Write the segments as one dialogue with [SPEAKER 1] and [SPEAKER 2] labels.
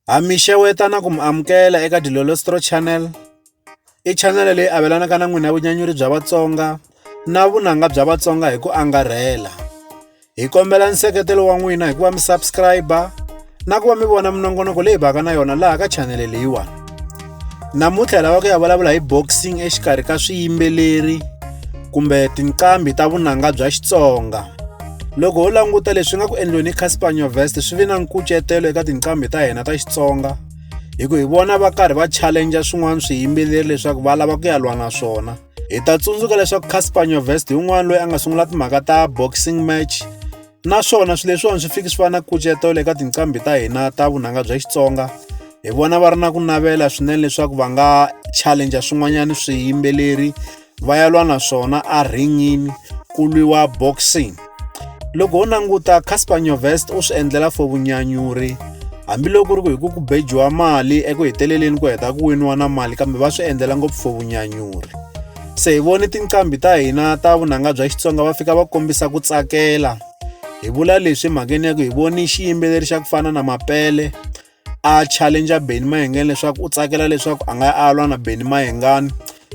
[SPEAKER 1] Ha mi xeweta na ku mi amukela eka Dilolostro Channel. I channel leyi avelanaka na n'wina vunyanyuri bya Vatsonga na vunanga bya Vatsonga hi ku angarhela. Hi kombela nseketelo wa n'wina hi ku va mi subscribe na ku va mi vona minongonoko leyi baka na yona laha ka channel leyiwani. namuntlha hi lava ku ya vulavula hi boxing exikarhi ka swiyimbeleri kumbe tinqambi ta vunanga bya xitsonga loko ho languta leswi nga ku endliweni hi casper nyovest swi ve na nkucetelo eka tinqambi ta hina ta xitsonga hi ku hi vona va karhi va challenja swin'wana swiyimbeleri leswaku va lava ku ya lwa na swona hi ta tsundzuka leswaku casper nyovest hi un'wana loyi a nga sungula timhaka ta boxing match Naswona swilo leswiwani swi fiki swi va na nkucetelo eka tinqambi ta hina ta vunanga bya Xitsonga. Hi vona va ri na ku navela swinene leswaku va nga challenge swin'wanyana swiyimbeleri va ya lwa na swona a ringini ku lwiwa boxing. Loko ho languta Casper Nyovest u swi endlela for vunyanyuri hambiloko ku ri ku hi ku ku bejiwa mali eku heteleleni ku heta ku winiwa na mali kambe va swi endlela ngopfu for vunyanyuri. Se hi vone tinqambi ta hina ta vunanga bya Xitsonga va fika va kombisa ku tsakela. Hi vula leswi mhakeni ya ku hi voni xiyimbeleri xa ku fana na Mapele a challenger Benny Mayengani leswaku u tsakela leswaku a nga a lwa na Benny Mayengani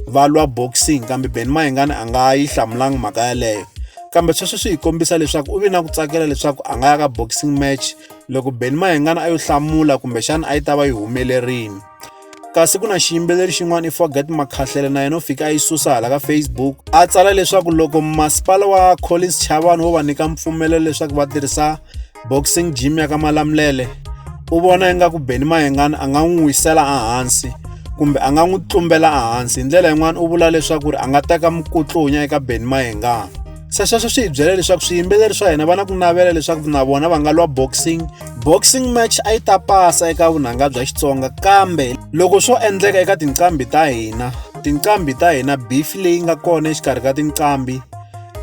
[SPEAKER 1] va lwa boxing kambe Benny Mayengani a nga yi hlamulanga mhaka yaleyo. Kambe sweswo swi hi kombisa leswaku u vi na ku tsakela leswaku a nga ya ka boxing match loko Benny Mayengani a yo hlamula kumbexana a yi ta va yi humelerile. kasi ku na xiyimbeleri xin'wana i forget makhahlele na yena u fika a yi susa hala ka facebook a tsala leswaku loko masipala wa collins chavani wo va nyika mpfumelelo leswaku va tirhisa boxing gym ya ka malamulele u vona ingaku beni mayengani a nga n'wi wisela ehansi kumbe a nga n'wi tlumbela ehansi hi ndlela yin'wana u vula leswaku ri a nga teka mukutlunya eka beni mayengani se sweswo swi hi byela leswaku swiyimbeleri swa hina va na ku navela leswaku na vona va nga lwa boxing boxing match a yi ta pasa eka vunanga bya xitsonga kambe loko swo endleka eka tinqambi ta hina tinqambi ta hina beef leyi nga kona exikarhi ka tinqambi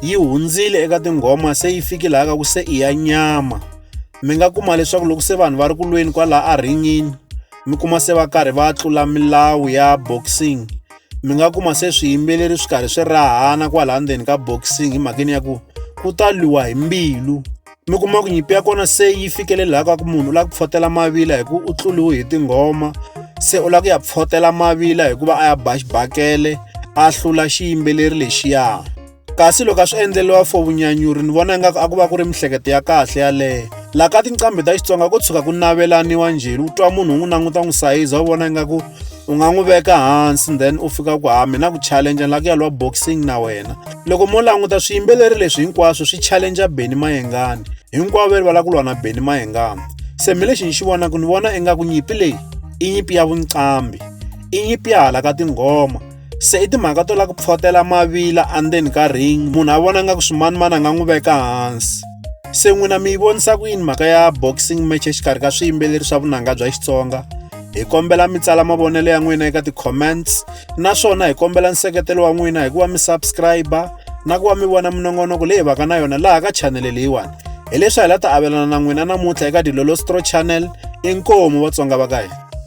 [SPEAKER 1] yi hundzile eka tinghoma se yi fiki laha ka ku se i ya nyama mi nga kuma leswaku loko se vanhu va ri ku lweni kwalaha a ringini mi kuma se va karhi va tlula milawu ya boxing mi nga kuma se swiyimbeleri swi karhi swi rahana kwalaha ndzeni ka boxing hi mhakeni ya ku ku ta lwiwa hi mbilu mi kuma ku nyimpi ya kona se yi fikelelaka ku munhu u lava ku pfotela mavila hi ku u tluriwe hi tinghoma se u lava ku ya pfotela mavila hikuva a ya ba xibakele a hlula xiyimbeleri lexiya. kasi loko a swi endleriwa for vunyanyuri ni vona ingaku a ku va ku ri mihleketo ya kahle yaleyo laha ka tinqambi ta xitsonga ko tshuka ku navelaniwa njheni u twa munhu u n'wi languta n'wi sayiza u vona ingaku u nga n'wi veka hansi then u fika ku ha mina ku challenge la ku ya lwa boxing na wena loko mo languta swiyimbeleri leswi hinkwaswo swi challenge beni mayengani hinkwavo va lava ku lwa na beni mayengani se mi lexi ni xi vonaka ni vona ingaku nyimpi leyi i nyimpi ya vunqambi i nyimpi ya hala ka tinghoma se i timhaka to lava ku pfotela mavila andzeni ka ring munhu a vona nga ku swimanimani a nga n'wi veka hansi se n'wina mi yi vonisa ku yini mhaka ya boxing match exikarhi ka swiyimbeleri swa vunanga bya xitsonga hi kombela mi tsala mavonelo ya n'wina eka ti-comments naswona hi kombela nseketelo wa n'wina hikuva mi subscribe na ku va mi vona minongonoko leyi vaka na yona laha ka chanele leyiwani hileswi hi la ta avelana na n'wina namuntlha eka dilolostro channel inkomu vatsonga va ka hina